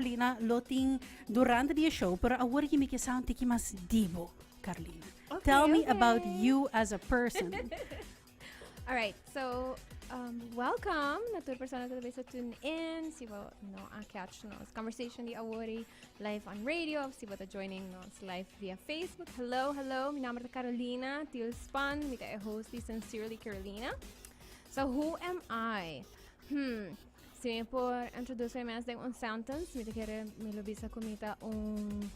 Carlina lo tin durante di e show pero awor yimi ke sa un tiki mas dibo Carlina okay, tell me okay. about you as a person alright so um, welcome na tur persona que talvez tune in si bo no a catch nos conversation di awori live on radio of si bo ta joining nos live via Facebook hello hello mi nombre es Carolina Tilspan mi ta e host di Sincerely Carolina so who am I hmm Si mi por introduce mi mes den un sentence, mi ta kere mi lo bisa ku mi ta un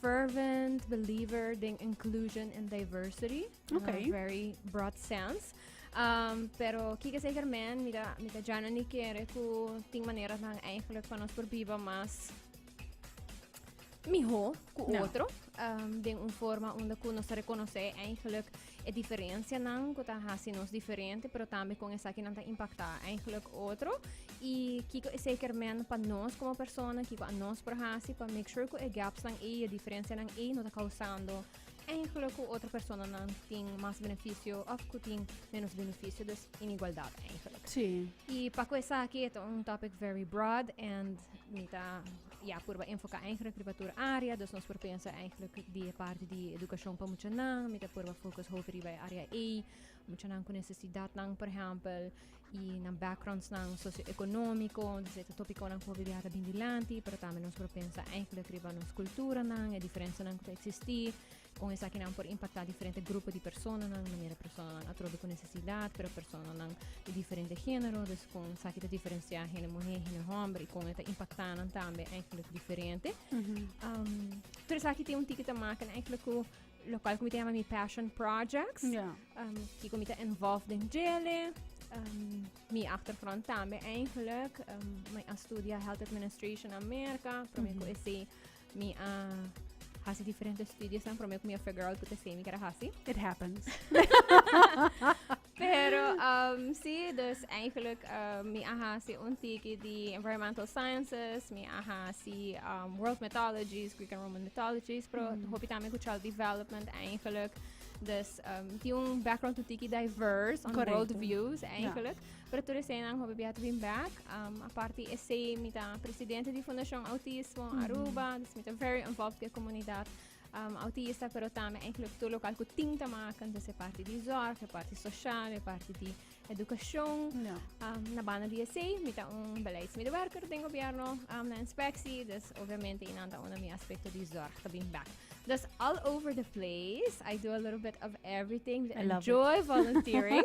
fervent believer den inclusion and diversity. Okay. In a very broad sense. Um, pero kika zeker men, mi ta, mi ta jana ni kere ku ting manera nan eigenlijk van ons por biba mas miho ku no. otro um, den un forma unda ku nos reconoce eigenlijk E diferencianan cu ta haci nos diferente, pero tambe con esaki nan ta impacta eigenlijk otro. Y kiko e zeker men pa nos como persona, kiko a nos por haci pa make sure cu e gaps nan ey, e diferencianan ey no ta causando eigenlijk cu otro personanan tin mas beneficio of cu tin menos beneficio. Dus inigualdad eigenlijk. Sí. Y pa cu esaki e ta un topic very broad and mi ta Ya, purba enfoká eigenlijk riba tur área, dus nos por pensa eigenlijk di e parti di edukashon pa muchanan. Mi ta purba fokus hopi riba e área ei, muchanan ku nesesidatnan, por ehèmpel, i nan backgroundsnan sosioekonómiko. Entonces e ta topikonan ku hopi biaha ta bin dilanti, pero tambe nos por pensa eigenlijk riba nos kulturanan, e diferensianan ku ta eksistí, Kon esakinan por impaktá diferente grupo di personanan, di manera personanan atrobe ku nesesidat, pero personanan di diferente género, dus kon esaki ta diferensiá hende muhé, hende hòmber i kon e ta impaktá nan tambe eigenlijk diferente. Tur esaki tin un tiki ta maka na eigenlijk ku lokal ku mi ta yama mi passion projects, Ja. um, kiko mi ta involved den djele. Um, mi achtergrond tambe eigenlijk, um, mi a studia health administration na Amerika, pero mi ku ese Mi a hasi diferente studios ang promé ku mi a figure out ku te sei mi keda hasi. It happens. Pero um, sí, dus eigenlijk uh, mi a hasi un tiki di environmental sciences, mi a hasi um, world mythologies, Greek and Roman mythologies, pero mm. hopi también ku child development eigenlijk. Dus um, di un background tu tiki diverse on Correcto. world views eigenlijk. Yeah. Pero tur esei nan hopi biaha ta bin back. Um, aparte esei, mi ta presidente di Fundacion Autismo mm-hmm. Aruba, mm -hmm. dus mi ta very involved ke comunidad um, autista, pero tambe eigenlijk tur local ku ting ta maken, dus e parte di zorg, e parte social, e parte di educacion. No. Um, na banda di esei, mi ta un beleidsmedewerker den gobierno, um, na inspectie, dus obviamente inan ta una mi aspecto di zorg ta bin back. That's all over the place. I do a little bit of everything. I love enjoy it. volunteering.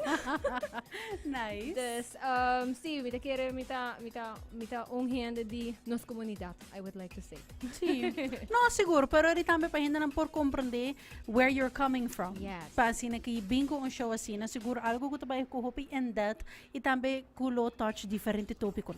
nice. Dus, um, sí, mita quiere, mita, mita, mita un hende di nos comunidad, I would like to say. Sí. no, seguro, pero eri también para gente por comprender where you're coming from. Yes. Para así que je bingo un show así, na seguro algo que te va a coger in depth y también culo touch diferente tópico.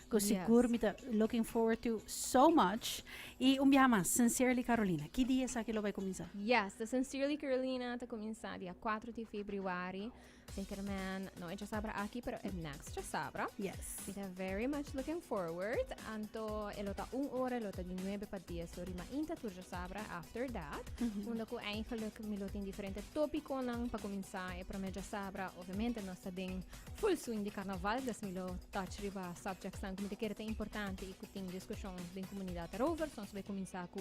Cu sigur mi ta looking forward to so much. Y un biaha mas, Sincerely Carolina. Ki dia esaki lo bay cuminsa? Yes, the Sincerely Carolina ta cuminsa dia 4 di februari. Zeker man, no e dja sabra aki, pero e next dja sabra. Yes. Mi ta very much looking forward. Anto e lo ta un ora, e lo ta di 9 pa 10. Lo rima inta tur dja sabra after that. Unda cu eigenlijk mi lo tin diferente topiconan pa cuminsa. E prome dja sabra, obviamente nos ta den Full swing di carnaval dus mil e touch riba subjects nan cu mi ta kere ta importante y cu tin discusion den comunidad erover. So nos lo cuminsa cu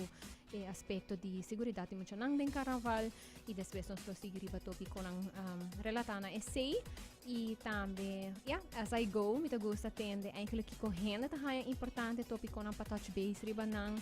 e aspecto di seguridad di muchanan den carnaval y despues nos lo sigui riba topi conan um, relata na esei y tambe yeah, as I go mi ta gusta tende eigenlijk kiko hende ta haya importante topi conan pa touch base riba nan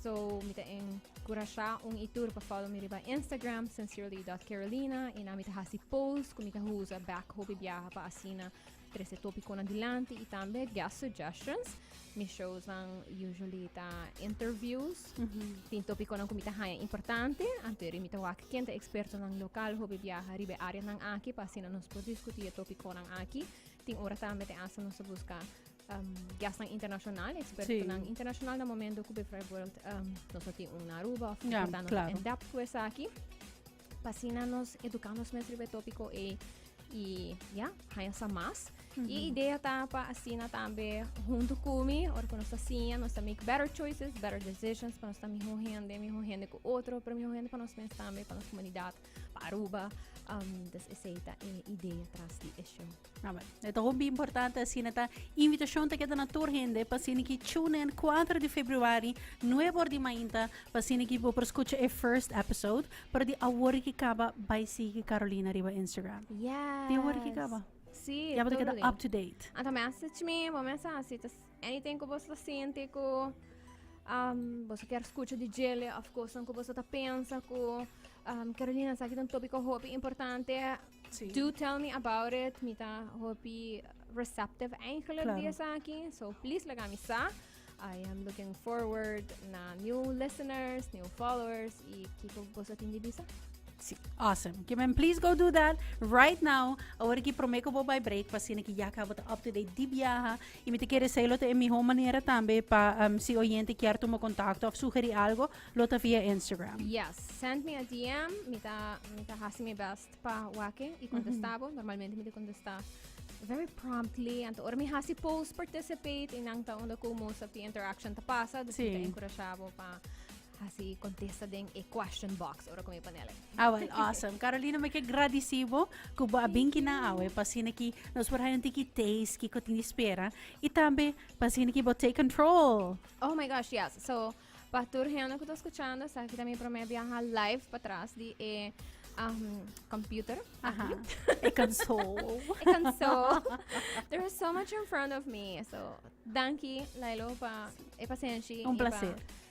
So mi ta en Curashá un y tur pa follow mi riba Instagram sincerely.carolina y na mi ta hasi posts cu mi ta usa bek hopi biaha pa asina trece topiconan dilanti y tambe guest suggestions. Mi shows dan usually ta interviews. Mm -hmm. Tin topiconan cu mi ta haya importante. Anteri mi ta wak ken ta expertonan local hopi biaha riba áreanan aki pa asina nos por discutir topiconan aki. Tin ora tambe te asa nos ta busca um, gastan internacional, expertonan sí. internacional na momento que bijvoorbeeld um, nos no tiene un Aruba of ja, no claro. en depth pues aquí. Pasina nos educamos mes ribe tópico e y ya, haya sa más. Mm -hmm. Y idea ta pa asina tambe junto con mi, or con nuestra siña, nos ta make better choices, better decisions, pa nos ta mejor gente, mejor gente con otro, pero mejor gente pa nos mens tambe, pa nos comunidad, pa Aruba. Um, dus is eta e idea tras die issue. Amen. E ta hopi importante asina ta invitacion ta keda na tur hende pa sini ki tune in 4 di februari 9 or di mainta pa sini ki bo por scucha e first episode pero di awor ki kaba bai sigi Carolina riba Instagram. Yes. Di awor ki kaba. Sí, Ya bo ta keda up to date. Anta me hace chmi, bo me hace así, tas Anything ku boso ta sinti ku um, boso ker skucha di Jele of kosan ku boso ta pensa ku um, Carolina sa ki un topiko hopi importante Sí. do tell me about it mi ta hopi receptive eigenlijk Claro. di esa aki so please laga mi sa I am looking forward na new listeners new followers i kiko boso tin di bisa Sí, awesome. Que men, please go do that right now. Ahora que prometo que voy break, para que ya acabo de up to date di viaja. Y mi ta kere esey lo ta e miho manera tambe pa si oyente kier tuma contacto of sugeri algo lo ta via Instagram. Yes, send mi a DM, mi ta mi ta hasi mi best pa wake y contesta bo. Normalmente mi ta contesta very promptly. Anto ora mi hasi post participate y nan ta unda como sap di interaction ta pasa, dus mi ta Sí. encouragea bo pa Así contesta den e question box ora con mi panel. Ah, well, awesome. Carolina, me que gradicibo que bo abinki na awe pa sine ki nos por hayon tiki taste ki ko tini spera y tambe pa sine ki bo take control. Oh my gosh, yes. So, pa tur hende que está escuchando, esta aquí también primer viaja live para atrás de eh, um, computer. Aha. E console. e console. There is so much in front of me. So, danki, Lailo, pa e paciencia. Un placer. Pa,